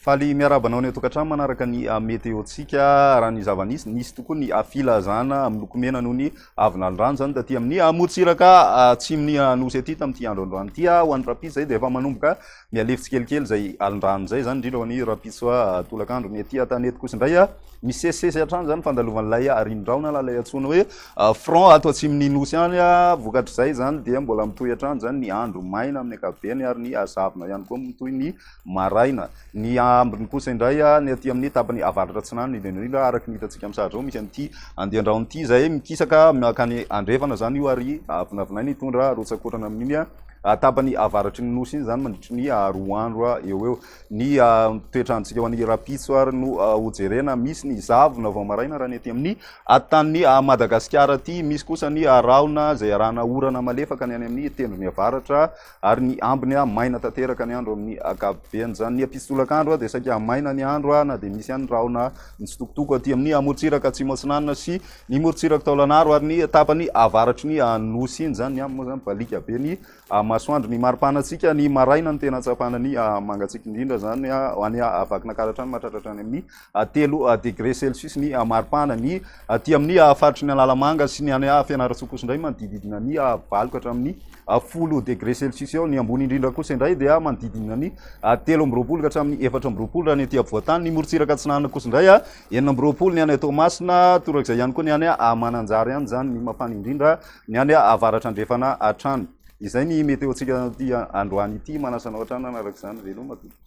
Faly miarahaba anao any an-tokantrano manaraka ny ah, meteontsika. Raha ny zava-nisy, nisy tokoa ny ah, filazana amin'ny lokomena noho ny Avy nandry rano izany taty amin'ny amorontsiraka atsimon'ny Anosy aty tamin'ity andro androany ity ho an'ny rahampitso izay dia efa manomboka mihalefy tsikelikely izay alindrano izay izany indrindra ho an'ny rahampitso tolakandro. Ny aty an-tany eto kosa indray misesisesy hatrany izany fandalovan'ilay rinon-drahona na ilay antsoina hoe front ato atsimon'ny Nosy any. Vokatr'izay izany dia mbola mitohy hatrany izany ny andro maina amin'ny ankapobeny ary ny zavona ihany koa mitohy ny maraina. Ny ambiny kosa indray, ny aty amin'ny tapany avaratra atsinanana, ny Benoît, araka ny hitantsika amin'ny sary izao, misy an'ity andian-drano ity izay mikisaka mankany andrefana izany io ary vinavinaina hitondra rotsakorana amin'iny tapany avaratry ny nosy iny izany mandritry ny roa andro eo ho eo. Ny toetr'androntsika ho an'ny rahampitso ary no hojerena, misy ny zavona vao maraina raha ny aty amin'ny tanin'i Madagasikara aty, misy kosa ny rahona izay arahana orana malefaka ny any amin'ny tendrony avaratra. Ary ny ambiny a, maina tanteraka ny andro amin'ny akapobean'izany. Ny mpitsolakandro a, dia saika hamaina ny andro a, na dia misy ihany ny rahona mitsitokotoko aty amin'ny amorontsiraka atsimo atsinanana sy ny morontsiraka taolanaro ary ny tapany avaratry ny nosy iny. Izany ny aminy moa izany, baliaka be ny masoandro. Ny maripana antsika, ny maraina no tena ahatsapana ny mangatsiaka indrindra izany a, any Vakinankaratra any, mahatratra hatrany amin'ny. telo degre celsius ny maripana ny aty amin'ny faritry ny Analamanga sy ny any Fianarantsoa kosa indray manodididina ny valo ka hatramin'ny folo degre celsius eo ny ambony indrindra kosa indray dia manodididina ny telo amby roapolo ka hatramin'ny efatra amby roapolo raha ny aty afovoantany ny morontsiraka atsinanana kosa indray a enina amby roapolo ny any Toamasina torak'izay ihany koa ny any Mananjary ihany izany ny mafana indrindra ny any avaratra andrefana hatrany izay ny meteontsika aty androany ity manasana hatrany araka izany veloma tompoko